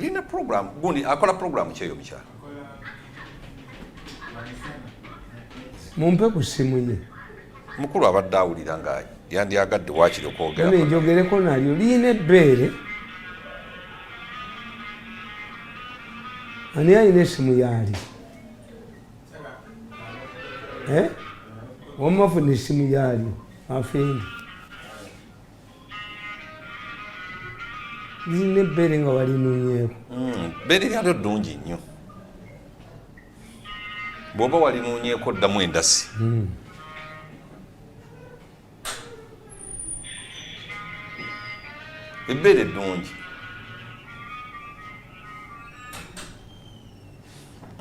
lina program gundi akola program kyeyo mukyala mumpe ku ssimu ye mukulu abadde awulira nga yandyagadde wakiri okwogera njogereko nalyo liyina ebbeere ani alina esimu yaali eh? wamafuna esimu yaalyo afendi lirina ebbeere nga walinunyeeko hmm, bbeere lyalyo ddungi nnyo bwoba walinunyeeko ddamu endasi hmm. ebbeere ddungi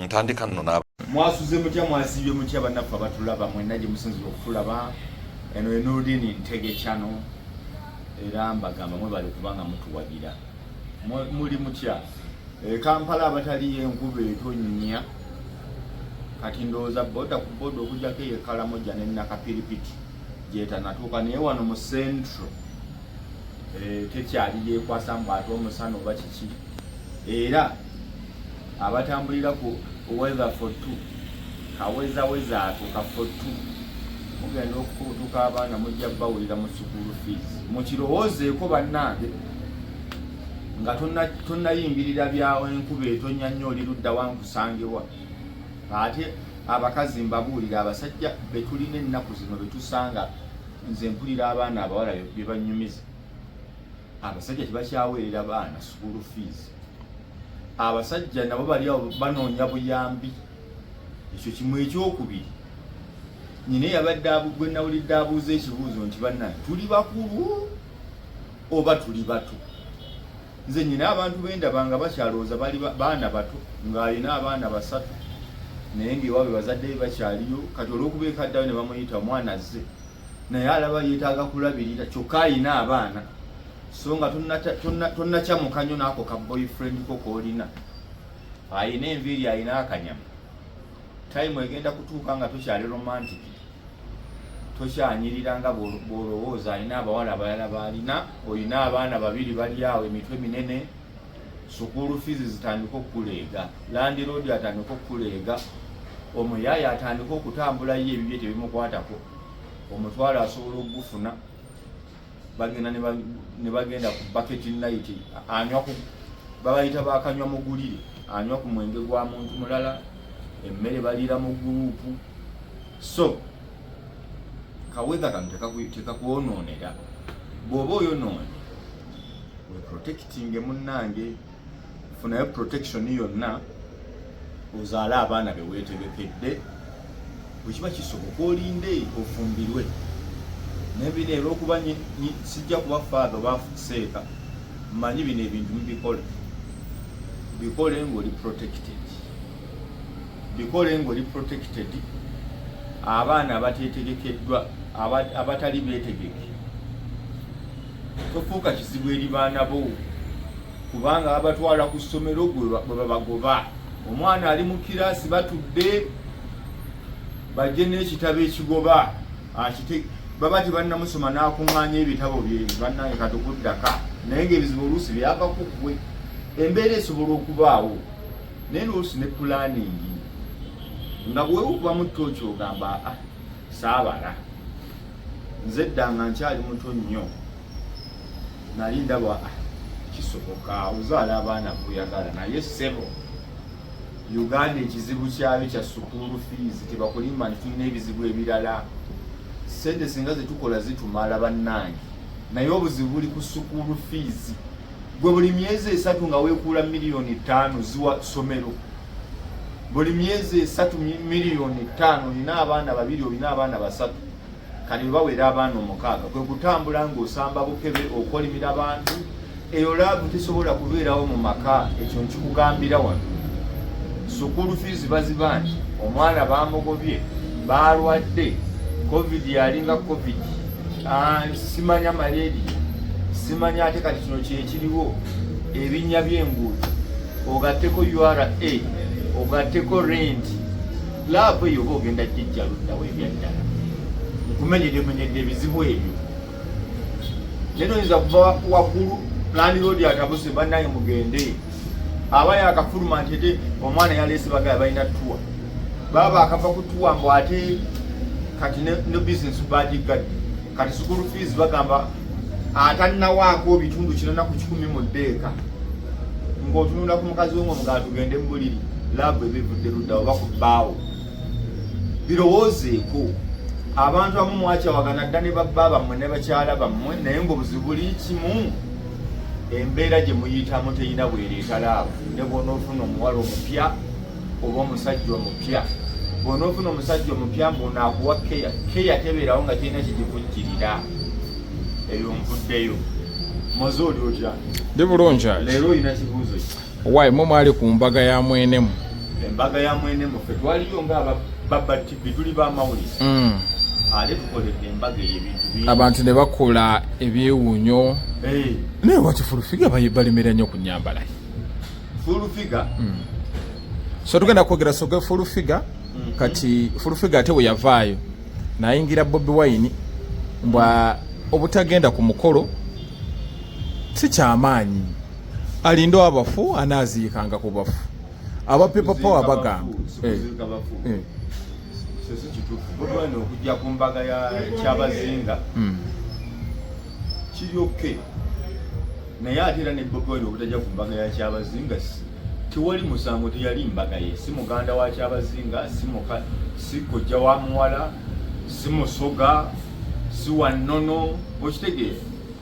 ntandika nno n'aba mwasuze mutya mwasibye mutya bannaffe abatulaba mwenna gye musinzira okutulaba eno enudini ntegecano era mbagamba mwebali kubanga mutuwagira muli mutya eh, kampala abataliyo enkuba etonnya kati ndowooza boda ku boda okujjako eyo ekalamoja nenakapiripiti gyetanatuuka naye wano mu centro eh, tekyali yekwasa mbu ate omusana oba kiki era abatambulira ku weather for two kawezaweza ako ka for two mugenda okukutuka abaana mujja bawulira mu sukulu fees mukirowoozeeko bannange nga tonnayimbirira byawo enkuba etonya nnyo oli ludda wankusangewa ate abakazi mbabuulira abasajja betulina ennaku zino betusanga nze mpulira abaana abawala bebanyumiza abasajja tebakyaweerera baana school fees abasajja nabo bali awo banoonya buyambi ekyo kimu ekyokubiri nyina eyabadde gwe nawulidde abuuza ekibuuzo nti banna tuli bakulu oba tuli bato nze nyina abantu bendaba nga bakyalowooza bali baana bato ng'alina abaana basatu naye ngaewaabwe bazadde be bakyaliyo kati olwokuba ekaddayo ne bamuyita omwana azze naye alaba yetaaga kulabirira kyokka alina abaana so nga tonnakyamuka nyo naako ka boyfriend ko koolina alina enviiri alina akanyama time egenda kutuuka nga tokyali romantic tokyanyirira nga bwolowooza alina abawala abalala baalina olina abaana babiri bali awo emitwe minene sukuulu fiizi zitandika okukuleega landiroodi atandika okukuleega omuyaaye atandika okutambula ye ebibye tebimukwatako omutwalo asobola okugufuna bagenda ne bagenda ku baketi nayiti anywa ku babayita bakanywa mugulire anywa ku mwenge gwa muntu mulala emmere baliira mu guruupu so kawedha kano tekakwonoonera bw'oba oyonoone weprotectinge munnange funayo protection yonna ozaale abaana beweetegekedde bwekiba kisoboka olinde ofumbirwe naye bino era okuba sijja kuba faatha oba seeka mmanyi bino ebintu mubikole bikole ng'oli protected bikole ng'oli protected abaana abateetegekeddwa abatali beetegeke tofuuka kizibu eri baana bo kubanga babatwala ku ssomero gwe babagoba omwana ali mu kiraasi batudde bajje n'ekitabo ekigoba akite baba tebannamusoma n'akuŋŋaanya ebitabo bye bannange katukuddaka naye ng'ebizibu oluusi byava ku ggwe embeera esobola okubaawo naye luusi ne pulaningi nga bwewukubamu tooki ogamba a ah, saabala nze dda nga nkyali muto nnyo nali ndaba ah, kisoboka ozaala abaana kuyagala naye sebo uganda ekizibu kyayo kya sukuulu fees tebakulimba nti tulina ebizibu ebirala sente singa zetukola zitumala bannange naye obuzibu buli ku sukuulu fees gwe buli myezi esatu nga wekuula miliyoni ttaano ziwa ssomero buli myezi esatu miliyoni ttaano olina abaana babiri olina abaana basatu kale bawera abaana omukaaga kwe kutambula ng'osamba bukebe okolimira abantu eyo laavu tesobola kubeerawo mu maka ekyo nkikugambira wano sukulu fiizi baziba nti omwana baamugobye baalwadde covid yalinga covid Ah, simanya maledi simanya ate kati kino kyekiriwo ebinnya by'enguudo ogatteko ura ogatteko rent laavu eyo oba ogenda jijja luddawo ebyaddala nkumenyedemenyedde ebizibu ebyo naye noyinza kuva waggulu landiroodi atabuse bannaye mugende aba yakafuluma nti ete omwana yaleese bagala balina tuwa baba akava ku tuwa mbu ate kati ne bizinesi bagiggadde kati sukulu fees bagamba atannawaako bitundu kinana ku kikumi mu ddeeka ng'otunula ku mukazi we ng'omugala tugende mu buliri laabu ebivudde ludda oba ku bbaawo birowoozeeko abantu abamu mwakyawagana dda ne babba bammwe ne bakyala bammwe naye ng'obuzibu buli kimu embeera gye muyitamu terina bwereeta laavu ne bwonoofuna omuwala omupya oba omusajja omupya bwonoofuna omusajja omupya mbuonaakuwa keya keya tebeerawo nga kirina kigivujjirira eyo nvuddeyo moze oli otya ndi bulungi leero olina kibuuzo ki Why mwe mwali ku mbaga ya mwenemu? Embaga ya mwenemu fe twaliyo nga baba TV tuli ba mawulire. Mm. Ale tukoledde embaga y'ebintu bingi. Abantu ne bakola ebyewunyo. Hey. Eh. Naye wati full figure balimira nnyo ku nyambala. Full figure. Mm. So tugenda kwogera soga full figure. Mm -hmm. Kati full figure ate we yavaayo. Nayingira Bobi Wine mbwa obutagenda ku mukolo si kyamaanyi. alinde abafu anaaziikanga ku bafu aba people power bagamba eh. eh. okujja ku mbaga ya kyabazinga hmm. kiri oke naye ate era ne boboin obutajja ku mbaga ya kyabazinga tewali musango teyali mbaga ye si muganda wa kyabazinga si kojja wa muwala si musoga si wannono okitegeera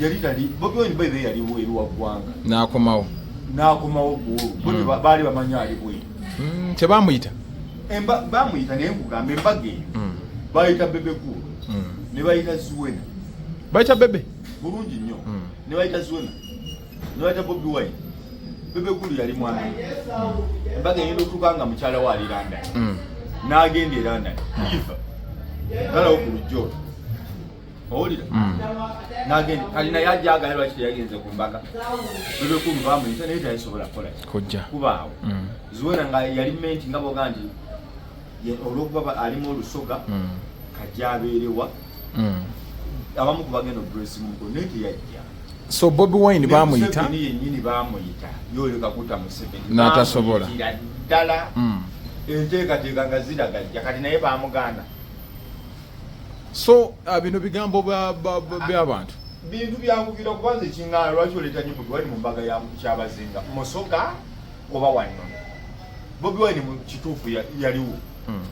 yali tali bobi wine bebe yali weru wa gwanga nakomawo nakomawo gwo bobi mm. bali bamanyi ali bwe mm te bamuyita emba bamuyita ne kugambe mbage mm. bayita bebe ku mm. ne bayita zuwena bayita bebe bulungi nyo mm. ne bayita zuwena ne bayita bobi wine bebe ku yali mwana mm. mbage yendo tukanga mchala wa aliranda mm. na agende randa mm. ifa kala okulujjo owulira mm. nagenda kati naye ajja agaye lwaki teyagenze ku mbaga bebekumubamuita naye tayasobola kukola kojja kubaawo mm. zuwena nga yali menti nga boga nti olwokuba alimu olusoga mm. kajja abeerewa abamu kubagenda obresi muko naye teyajja so bobi wine bamuyita yenyini bamuyita yoleka kuta museveni natasobola ddala enteekateeka nga ziragajja kati naye bamuganda so uh, bino bigambo byabantu bintu byankugira kuba nze kingana lwaki oleeta nyo bobi wine mu mbaga ya kyabazinga musoka oba wanno bobi wine mu kituufu yaliwo hmm.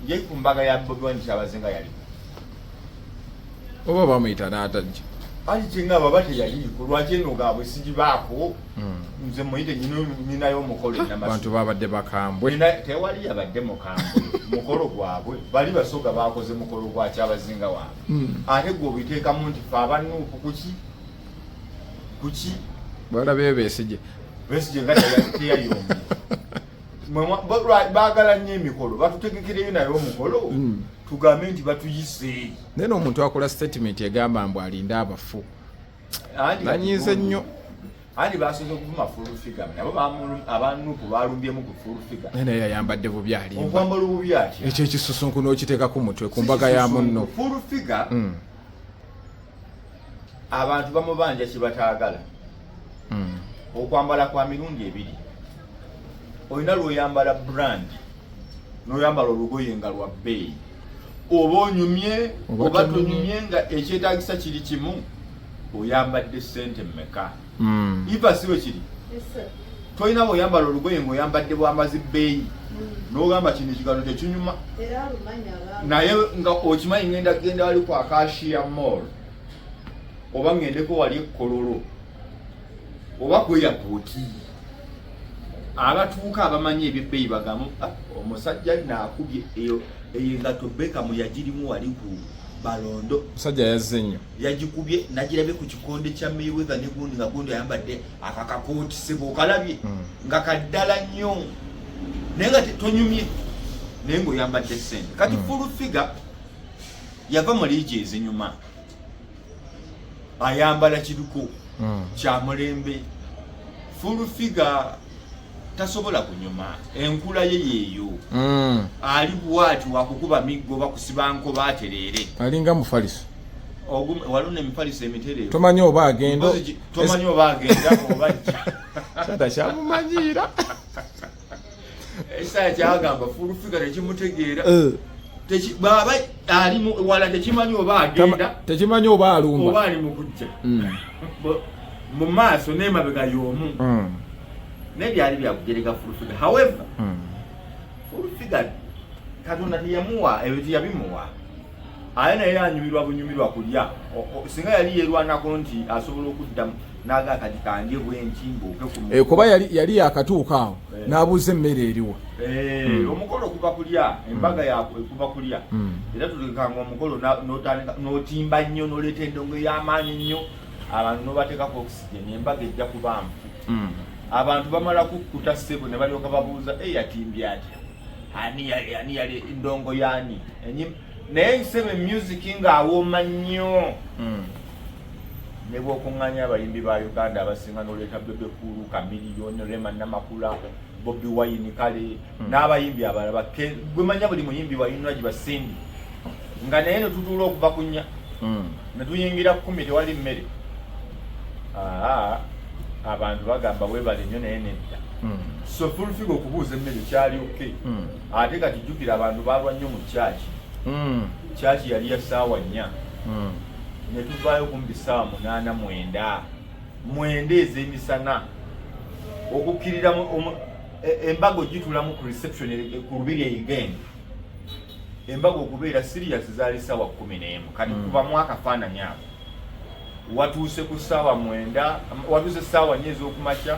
ye ku mbaga ya bobi wine kyabazinga yaliwo oba bamuyita n'atajja ali kingaba bate yaliiko lwaki eno gaabwe sigibaako hmm. nze muyite nyinayo omukolo abantu babadde bakambwe tewali yabadde mukambwe mukolo gwabwe bali basoga bakoze mukolo gwa kyabazinga wange hmm. ate gwe obiteekamu nti fe abanuupu kuki kuki balabeyo besije besije nga teyayombye bagala nnyo emikolo batutegekereyo naye omukolo hmm. tugambe nti batuyise naye nomuntu akola statement egamba mbu alinde abafu nanyiize nnyo andi basoze okuvuma full figure nabo abanupu balumbyemu ku full figure naye yayambadde bubi ali okwambala obubi atya ekyo ekisusunku n'okiteeka ku mutwe ku mbaga ya munno full figure mm. abantu bamubanja kye bataagala mm. okwambala kwa mirundi ebiri olina lwoyambala brand noyambala olugoye nga lwa bbeeyi oba onyumye oba tonyumye nga ekyetagisa kiri kimu oyambadde sente mmeka hmm. iva siwe kiri tolina bweoyambala olugoye ngaoyambadde bwamazi bbeeyi hmm. nogamba kino ekigalo tekinyuma naye nga okimanyi ngenda kugenda wali kwakashiya mall oba ngendeko wali ekkololo oba ku airport abatuuka abamanyi ebyebbeeyi bagamu ah, omusajja naakubye eyo engato bekamu yagirimu wali ku balondo musajja yazze nnyo yagikubye nagirabye ku kikonde kya mayweather ne gundi nga gundi ayambadde akakakooti sebo okalabye hmm. nga kaddala nnyo naye nga tonyumye naye ngaoyambadde sente kati hmm. fulu figa yava mu liigi ezinyuma ayambala kiruko mm. kyamulembe fulufiga tasobola kunyuma enkula ye yeeyo mm. ali bwati wakukuba miggo bakusibanko batereere alinga mufaliso waluna emifaliso emiterere tomanyi oba agenda tomanyi oba agenda oba ajja kyamumanyiira ekisaaya kyagamba fulufiga tekimutegeera eh. bwaba ali wala tekimanyi oba agenda tekimanyi oba alumba oba ali mukujja hmm. mu maaso nemabega yomu hmm. naye byali byakugereka fulufiga however hmm. fulufiga katonda teyamuwa ebyo teyabimuwa aye naye anyumirwa bunyumirwa kulya singa yali yerwanako nti asobola okuddamu naga kati kanje bwenti mbuuke ku eh, kuba yali yali yakatuuka awo eh. n'abuuza emmere eriwa eh, hmm. omukolo kuba kulya embaga yakwe kuba kulya hmm. era tutekanga omukolo n'otandika n'otimba nnyo n'oleeta endongo ey'amaanyi nnyo abantu n'obateekako oxygen embaga ejja kubaamu hmm. abantu bamala kukkuta ssebo ne balyoka babuuza eyatimbye atya ani yali ani yali ndongo yani enyim naye nsebe music nga awoma nnyo mm. ne bwokunganya abayimbi ba uganda abasinga noleeta bebekulu kamiliyoni rema namakula bobi wayini kale mm. n'abayimbi abalaba gwemanya buli muyimbi wayinula gye basindi nga naye netutuula okuva kunya mm. ne tuyingira kkumi tewali mmere abantu bagamba webale nnyo naye nedda hmm. so fulfiga okubuuza emmere kyali ok hmm. ate kati jjukira abantu balwa nnyo mu kyaki hmm. kyaki yali ya saawa nnya ne tuvaayo kumbi saawa munaana mwenda mwenda ez'emisana okukkirira e, embaga ogitulamu ku reception e, ku lubiri eigenda embaga okubeera siriyasi zaali ssaawa kumi n'emu kati mm. kubamu akafaananyi ako watuuse ku ssaawa mwenda watuuse ssaawa nyo ez'okumakya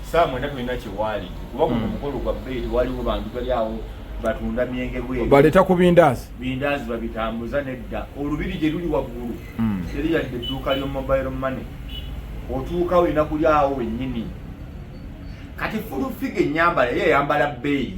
ssaawa mwenda tulina kyewaali kuba guno mm. mukolo gwa beeri waliwo bantu bali awo batunda myenge bweru baleeta ku bindaazi bindaazi babitambuza nedda olubiri gye luli waggulu mm. teri yadde edduuka ly'omobile money otuuka olina kuli awo wennyini kati fulufiga ennyambala ye eyambala bbeeyi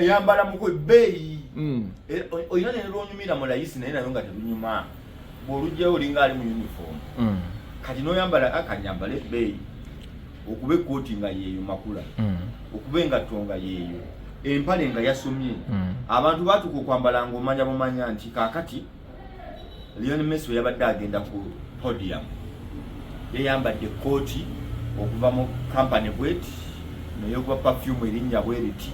eyambala muku ebbeeyi hmm. e, olina nelwonyumira mu layisi naye nayo nga telunyuma bwolugjayo olinga ali mu uniform hmm. kati noyambala akanyambala ebbeeyi okuba ekkooti nga yeeyo makula hmm. okuba engatto nga yeeyo empale nga yasomye abantu batuka okwambala ngaomanya bumanya nti kakati Lionel Messi bwe yabadde agenda ku podium yayambadde ekkooti okuva mu kampani bweti neyokuba pafyumu erinnya bweriti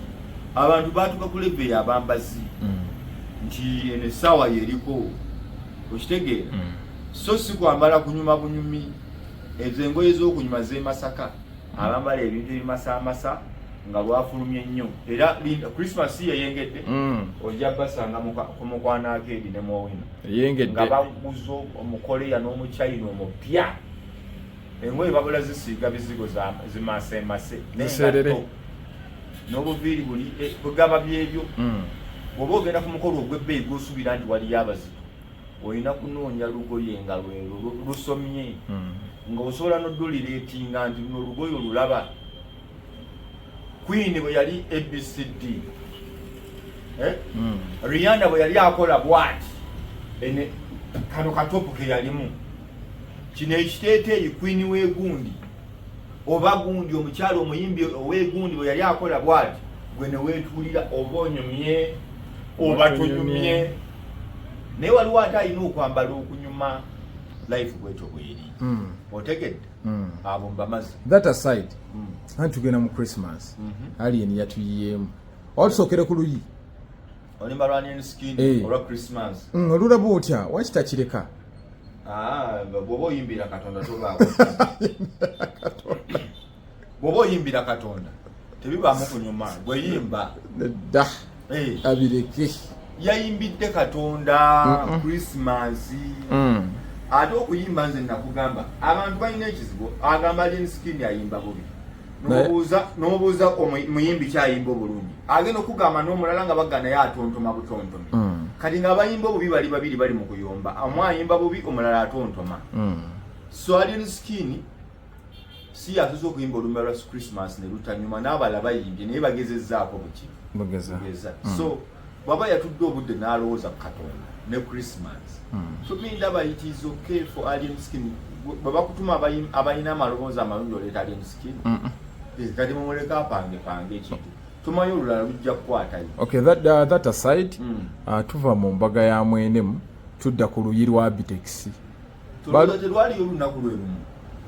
abantu baatuka ku leve yabambazi mm. nti eno essaawa yeriko okitegeera mm. so si kwambala kunyuma bunyumi ezo engoye z'okunyuma z'emasaka abambala ebintu ebimasamasa nga lwafulumye nnyo era christmas yeyengedde mm. ojja basanga ku mukwano akeedi ne mwowino nga baguza omukoleya n'omuchina omupya engoye babula zisiiga bizigo zimasemase n'obuviiri buli eh, bugaba byebyo mm. bwoba ogenda ku mukolo ogw'ebbeeyi gwosubira nti waliyo abazito olina kunoonya lugoye nga lwero lusomye hmm. nga osobola noduliretinga nti luno olugoye olulaba queen bwe yali abcd eh? hmm. riana bwe yali akola bwati ene kano katopu ke yalimu kino ekiteeteeyi queen wegundi oba gundi omukyalo omuyimbi owegundi bwe yali akola bwati gwe newetuulira oba onyumye oba tunyumye naye waliwo ate alina okwambala okunyuma life bwetyo bweri hmm. otegedde hmm. abo mbamazi that aside hmm. anti tugenda mu christmas mhm. alien yatuyiyemu oba tusookere ku luyi olimba lwanini skin eh. olwa christmas mm, olulaba otya waki takireka ah, bwoba oyimbira katonda tobaako bwoba oyimbira katonda tebibaamu kunyuma gweyimba nedda eh. abireke yayimbidde katonda christmas mm. ate okuyimba nze nakugamba abantu balina ekizibu agamba linskin ayimba bubi nomubuuza omuyimbi kyayimba obulungi agenda okugamba nomulala nga bagana ye atontoma butontoma mm. kati nga abayimba obubi bali babiri bali mu kuyomba omu ayimba bubi omulala atontoma mm. so alien skin si yatuza okuyimba olumba lwa christmas ne lutanyuma n'abala bayimbye naye bagezezaako buki bageza mm. so bwaba yatudde obudde n'alowooza ku katonda ne christmas hmm. so mi ndaba it is okay for alien skin bwe bakutuma abalina amaloboozi amalungi oleeta alien skin eh, kati mumuleka apange pange ekintu tumanyi olulala lujja kukwatayo okay that, uh, that aside mm. uh, tuva mu mbaga ya mwenemu tudda ku luyi lwa bitekisi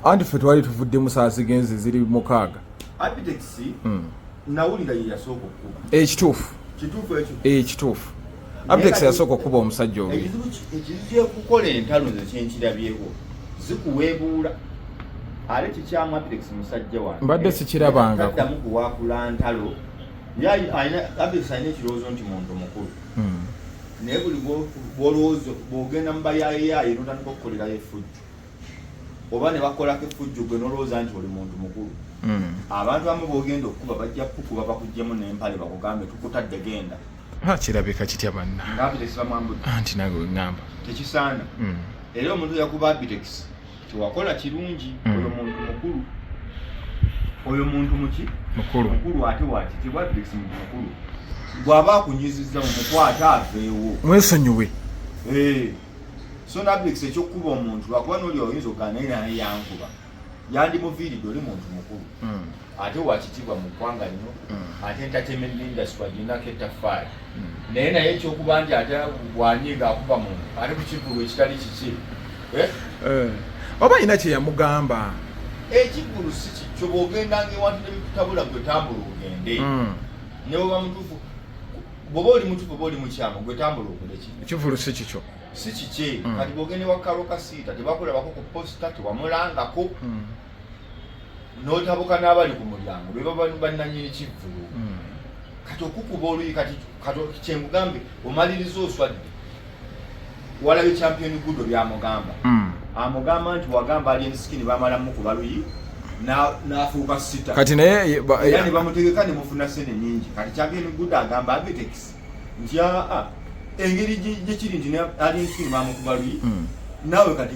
anti ffe twali tuvudde musaasi genzi ziri mukaaga hmm. ekituufu ekituufu abitex yasooka okukuba omusajja oyo ekizibu ekikukola entalo nze kyenkirabyeko zikuweebuula ate kikyamu abitex musajja wange mbadde sikirabangako kuwaakula ntalo abitex alina ekirowoozo nti muntu mukulu hmm. naye buli bwolowooza bwogenda mubayayeyaaye notandika okukolerayo efujju oba ne bakolako efujju gwe nolowooza nti oli muntu mukulu hmm. abantu amu bogenda okukuba bajja kukuba bakugjemu nempale bakugambe tukutadde genda kirabika kitya banna nti nawe weŋamba tekisaana hmm. era omuntu yakuba abitekisi kyewakola kirungi mm. oyo muntu mukulu oyo muntu muki mukulu mukulu ate wakitibwa bisi muntu mukulu bwaba akunyiziza mumukwate aveewo mwesonyiwe eh. so nabix ekyokukuba omuntu lwakuba noli oyinza okugana naye naye yankuba yandimuviiridde oli muntu mukulu mm. ate wakitiibwa mu ggwanga lino mm. ate entertainment industry agirinako ettaffaali mm. naye naye ekyokuba nti ate wanye ngaakuba muntu ate ku kivulu ekitali kiki eh? Eh. oba alina kyeyamugamba ekivulu si kikyo bwogendanga ewantu nebikutabula gwe tambula ogende mm. neweba mutuufu bwoba oli mutuufu oba oli mukyamu gwe tambula ogende ekivulu si kikyo si kikye kati bwogende wa karo kasiita tebakulabako ku posita tewamulangako notabuka n'abali ku mulyango be baba bannanyini kivvulu hmm. kati okukuba oluyi kati kyemugambe omaliriza oswadde walabe champion gudo byamugamba hmm. amugamba nti wagamba ali ensikini bamalamu kuba luyi nafuuka sita kati naye era ne bamutegeka ne mufuna sente nyingi kati champion gudo agamba abitex nti aa engeri gyekiri nti ali ensikini bamukuba luyi hmm. nawe kati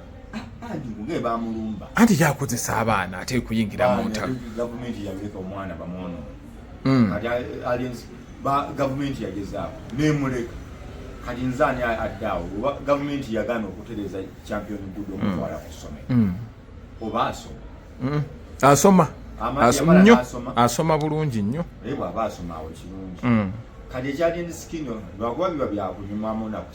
anti yakozesa abaana ate kuyingira mu ntalo hmm. gavumenti yagezaako nemuleka kati nze ani adde awo oba gavumenti yagaana okutereza champion gudo hmm. omutwala ku ssomero hmm. oba asoma asoma nnyo asoma bulungi nnyo naye bwaba asoma awo kirungi kati ekyagenda sikino lwakuba biba byakunyumamu naku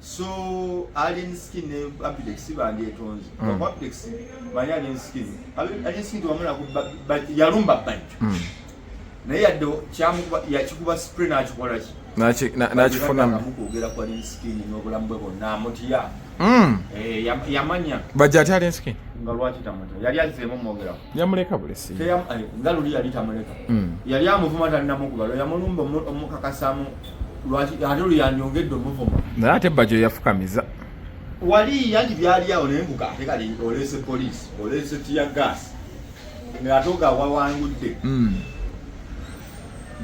so alien skin ne apidex bandyetonze mm. apidex mali alien skin alien skin tewamulako yalumba bajjo mm. naye yadde yakikuba spray nakikolaki nakifunamukwogera ku alien skin n'obulamu bwe bonna amutya mm. eh, yamanya bajja ati alien skin nga lwaki tamuta yali azzeemu omwogerako yamuleka bulesi nga luli yali tamuleka hmm. yali amuvuma talinamukuba lwe yamulumba omukakasamu lwaki ate lwe yanyongedde omuvuma naye ate bajo yafukamiza wali yanti byali awo naye mbuka ate kali oleese poliisi oleese tiya gaasi ngaate oga wawangudde hmm.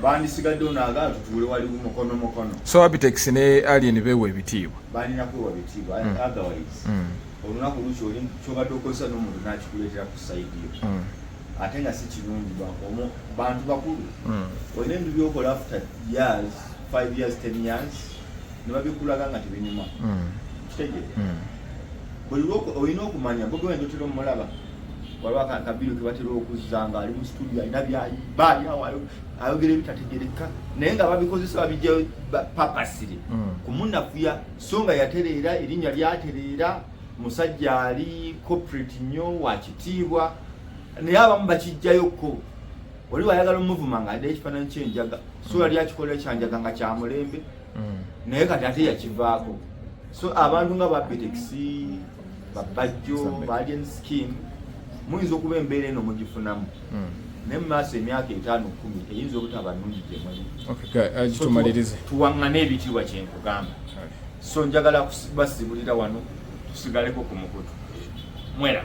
bandisigadde onaaga tutuule wali mukono mukono so abitex ne alien bewa ebitiibwa balina kwewa bitiibwa hmm. otherwise olunaku lukyoli kyobadde okozesa nomuntu nakikuleetera ku saidi yo hmm. ate nga si kirungi bantu bakulu hmm. olina ebintu byokola after years five years ten years nebabikulaga nga tebinyuma hmm. kitegere buli olina okumanya bogewenda otera omulaba waliwo akabiru kebatera okuzza nga ali mu situdio alina byayiba alinawo ayogera ebitategereka naye nga babikozesa babijja papasire kumunafuya so nga yatereera erinnya lyatereera musajja ali corporate nnyo wakitiibwa naye abamu bakijjayokko oli wayagala omuvuma nga adde ekifaananyi kyenjaga so yali akikolera kyanjaga nga kyamulembe mm. naye kati ate yakivaako so abantu nga bapetex babajjo balian skin muyinza okuba embeera eno mugifunamu hmm. naye mu maaso emyaka etaano kumi eyinza obutaba nungi gyemuli uh, tuwaŋŋane ebitiibwa kye nkugamba so njagala basibulira wano tusigaleko ku mukutu mwera